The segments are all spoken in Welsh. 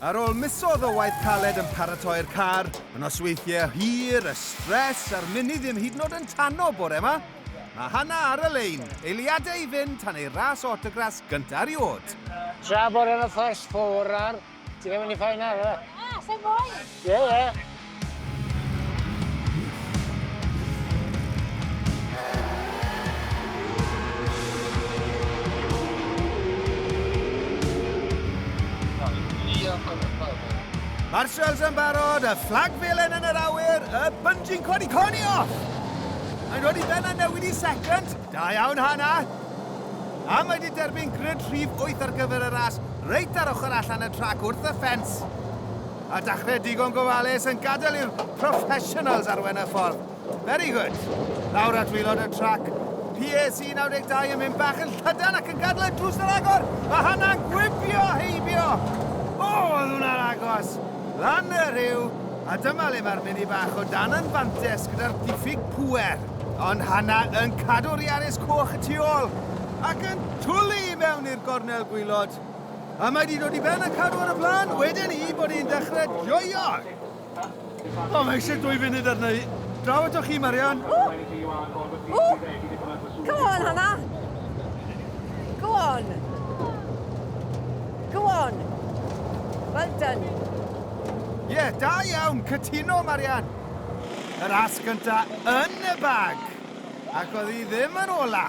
Ar ôl misodd o waith caled yn paratoi'r car, yn os weithiau hir, y stres a'r mini ddim hyd yn oed yn tanno bore yma, mae Hanna ar y lein, eiliadau i fynd tan ei ras autograss gyntaf erioed. Tra bod yn y first four ar, ti'n mynd i ffain ar e? Na, sa'n moyn! Ie, ie. Mae'r shells yn barod, y fflag felen yn yr awyr, y bungee cod i coni off! Mae'n dod i ben a newid i second. Da iawn, Hana. A mae wedi derbyn grid rhif 8 ar gyfer y ras, reit ar ochr allan y trac wrth y ffens. a dachrau digon gofalus yn gadael i'r professionals arwen y ffordd. Very good. Lawr at wilod y trac. PAC 92 yn mynd bach yn llydan ac yn gadw y drws ar agor. Mae hynna'n gwibio heibio. O, oh, oedd hwnna'n agos. Lan y rhyw, a dyma le mae'r mini bach o dan yn fantes gyda'r diffyg pwer. Ond Hanna yn cadw'r Iaris coch y tu ôl ac yn twlu i mewn i'r gornel gwylod. A mae 'di dod i ben y carw ar y blaen, wedyn i bod ni'n dechre joio! O, mae eisiau dwy funud arna i. Draw ato chi, Marian. O! O! Come on, Hannah! Go on! Go on! Well done. Ie, yeah, da iawn, cytuno, Marian. Yr as gynta yn y bag. Ac oedd hi ddim yn ola.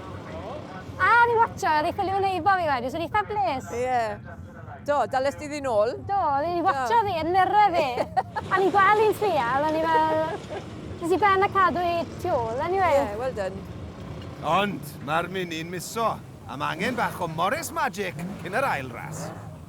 A, ni watcha, oedd ei ffilm yn eifo fi wedyn, sy'n eitha bles. Ie. Yeah. Do, dalus di ddyn ôl? Do, ni watcha fi, yn nyrra fi. a ni'n gweld i'n trial, a ni fel... Nes i ben a cadw i tu ôl, anyway. Ie, yeah, well done. Ond, mae'r mini'n miso. Am angen bach o Morris Magic cyn yr ail ras.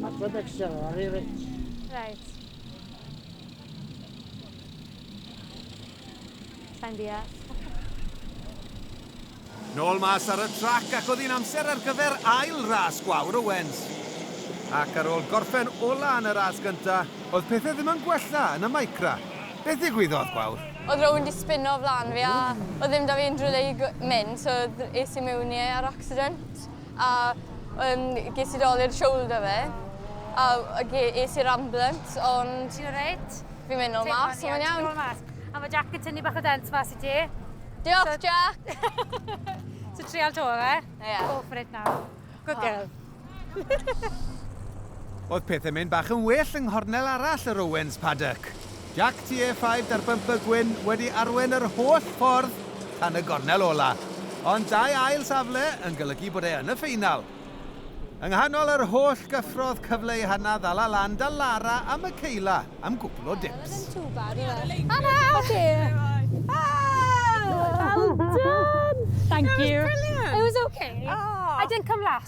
That's what makes it very rich. Right. Sain deall. Nôl mas ar y trac ac oedd hi'n amser ar gyfer ail ras gwawr Owens. Ac ar ôl gorffen ola yn y ras gynta, oedd pethau ddim yn gwella yn y micra. Beth ddigwyddodd, gwawr? Oedd rhywun di spinno o flan fi a oedd ddim da fi unrhyw le i mynd, so es i mewn i e ar accident. A yn ges i dol i'r shoulder fi a ge- es i'r ambulance ond... Ti'n alright? Fi'n mynd nôl mas, so mae'n iawn. A mae Jack yn tynnu bach o dent mas i ti. Diolch so... Jack! so trial to fe? Yeah. Go for it now. Good girl. Oedd pethau'n mynd bach yn well yng nghornel arall yr Owens Paddock. Jac TE five 'da'r bymper gwyn wedi arwain yr holl ffordd tan y gornel ola', ond dau ail safle yn golygu bod e yn y ffeinal. Yng nghanol yr holl gyffrodd cyfle ei hannau ddala lan da Lara a Michaela am gwpl o dips. Hana! Well done! Thank you. It was okay. I didn't come last.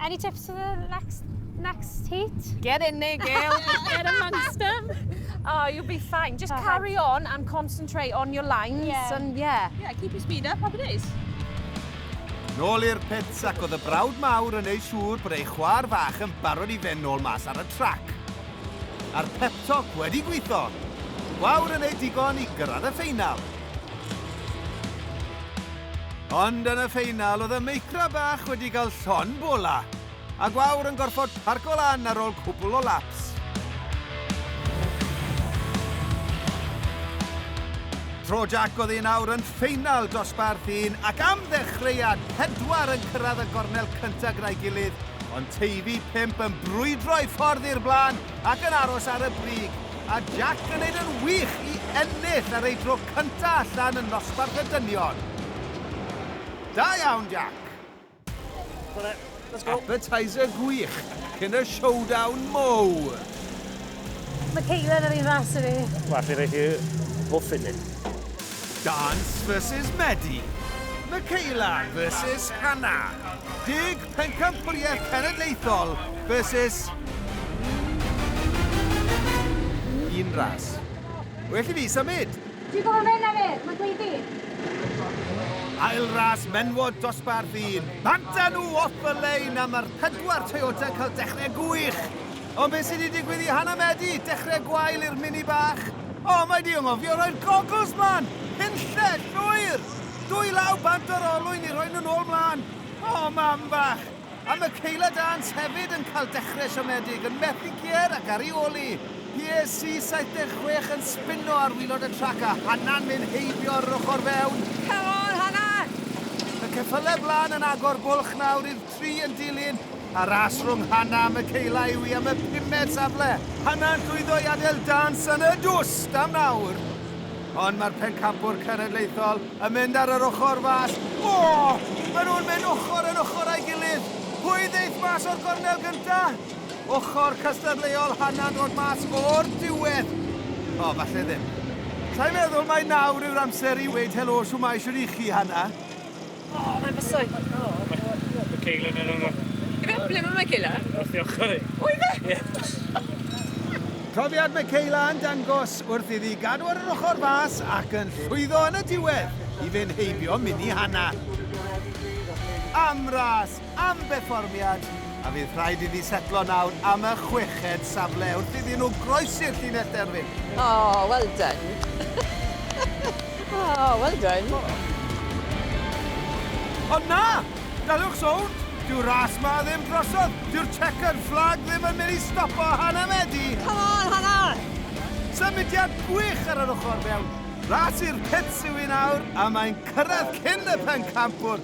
Any tips for the next next heat? Get in there, girl. Get amongst them. Oh, you'll be fine. Just Perfect. carry on and concentrate on your lines. Yeah. And yeah. Yeah, keep your speed up. Happy days. Nôl i'r pits ac oedd y brawd mawr yn ei siŵr bod ei chwar fach yn barod i fe nôl mas ar y trac. A'r pep talk wedi gweithio. Gwawr yn ei digon i gyrraedd y ffeinal. Ond yn y ffeinal, oedd y Meicra bach wedi cael llon bola, a Gwawr yn gorfod parco lan ar ôl cwbl o laps. Tro Jac oedd un awr yn ffeinal dosbarth un ac am ddechreuad, pedwar yn cyrraedd y gornel cyntaf gyda'i gilydd, ond Teifi pump yn brwydro ei ffordd i'r blaen ac yn aros ar y brig. A Jack yn neud yn wych i ennill ar ei dro cynta allan yn nosbarth y dynion. Da iawn, Jack! Appetizer gwych cyn y showdown mowr! Mae Caitlin yr un ras a fi. Wel, allai roi chi muffin neu? Dance versus Medi. Michaela versus Hannah. Deg Pencampwriaeth Cenedlaethol versus un ras. Well i fi symud! Dwi'n gwybod mynd am e, mae'n dweud fi. Ail ras menwod dosbarth un. Banta nhw off y lein a mae'r pedwar Toyota yn cael dechrau gwych. Ond beth sydd wedi digwydd i Hannah Medi? Dechrau gwael i'r mini bach. O, oh, mae di ymofio rhoi'r goggles mlaen! Hunlled, llwyr! Dwy law bant o'r olwyn i roi nhw'n ôl mlaen. O, mam bach! A mae Kayla Dance hefyd yn cael dechrau siomedig, yn methu Kier ac ar ei ôl i. Pier C76 yn sbino ar wilod y trac a Hannah'n mynd heibio ar yr ochr fewn. Come on, Hannah! Y ceffylau blaen yn agor bwlch nawr i'r tri yn dilyn, a ras rhwng Hannah a Michaela yw hi am y pumed safle. Hannah'n llwyddo i adael Dance yn y dwst am nawr. Ond mae'r pencampwr cenedlaethol yn mynd ar yr ochr fas. O! Maen nhw'n mynd ochr yn ochr a'i gilydd. Pwy ddeith mas o'r gornel gynta? Ochr cystadleuol Hannah'n dod mas o'r diwedd. O, falle ddim. Sa'n meddwl mai nawr yw'r amser i weud helo shwmae shwt i chi, Hannah? O, mae'n bysau. O, mae Kayla yn yno. Ife, ble mae Kayla? Wrth i ochr i. O, ife? Ie. Profiad mae Kayla yn dangos wrth iddi gadw ar yr ochr fas ac yn llwyddo yn y diwedd i fynd heibio mini Hannah. Am ras! am berfformiad a fydd rhaid iddi setlo nawr am y chweched safle wrth iddyn nhw groesi'r llinell derfyn. Oh, well done. oh, well done. Ond na! Daliwch sownd! Dyw'r ras 'ma ddim drosodd! Dyw'r chequered flag ddim yn mynd i stopo Hannah Medi! Come on, Hannah! Symudiad gwych ar yr ochr fewn. Ras i'r pits yw hi nawr a mae'n cyrraedd cyn y pencampwr.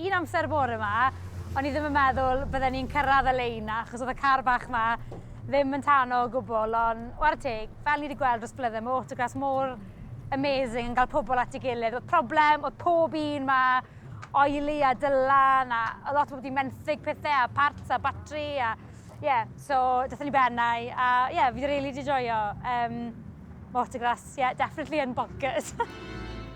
Un amser bore 'ma, o'n i ddim yn meddwl bydden ni'n cyrraedd y lein 'na, achos oedd y car bach 'ma ddim yn tano o gwbl, ond ware teg, fel ni wedi gweld dros blydde, mae autograss mor amazing yn cael pobl at ei gilydd. Oedd problem, oedd pob un 'ma, oily a dylan, a oedd lot o bobl wedi menthyg pethau, a parts a batri, a ie, yeah, so daethon ni ben a ie, yeah, fi wedi rili 'di joio. Um, mae autograss, ie, yeah, definitely yn bonkers.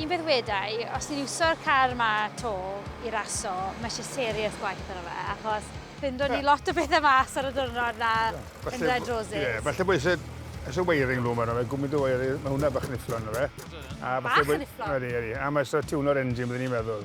Un peth wedai, os ni'n iwso'r car yma 'to i raso, mae eisiau serious gwaith arno fe, achos ffindon ni lot o bethau mas ar y diwrnod 'na yn Red Roses. Ie, falle bod isie isie wiring loom arno fe, gwmint o wire, ma' hwnna bach yn nifflon yw e. Bach yn nifflon? Ydi, ydi. A ma' isie tiwnio'r engine byddwn i'n meddwl.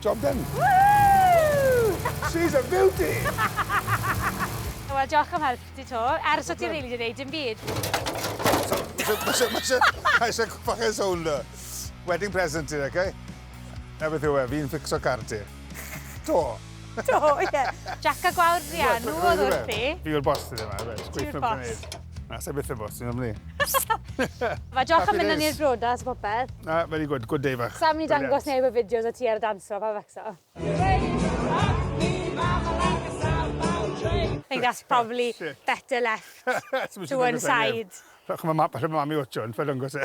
Job done. Woohoo! She's a beauty! Wel, diolch am help ti to. Ers o ti rili di wneud dim byd. Mae eisiau gwybod eisiau sôn da. Wedding present ti, okay? Na beth yw e, fi'n ffixo car ti. To. To, ie. Jac a gwawr Brian, nhw oedd wrth i. Fi yw'r boss ti ddim, a fe. Ti yw'r boss. Na, sa'i byth yn bwys, ti'n ofni. Mae Joch yn mynd yn i'r brodas o popeth. Na, very good, good day fach. Sa'n mynd i dangos neb y fideos o ti ar y dance floor, pa facso. I think that's probably better left to one side. Rhowch yma map allan mam i watcho, yn ffael yngos e.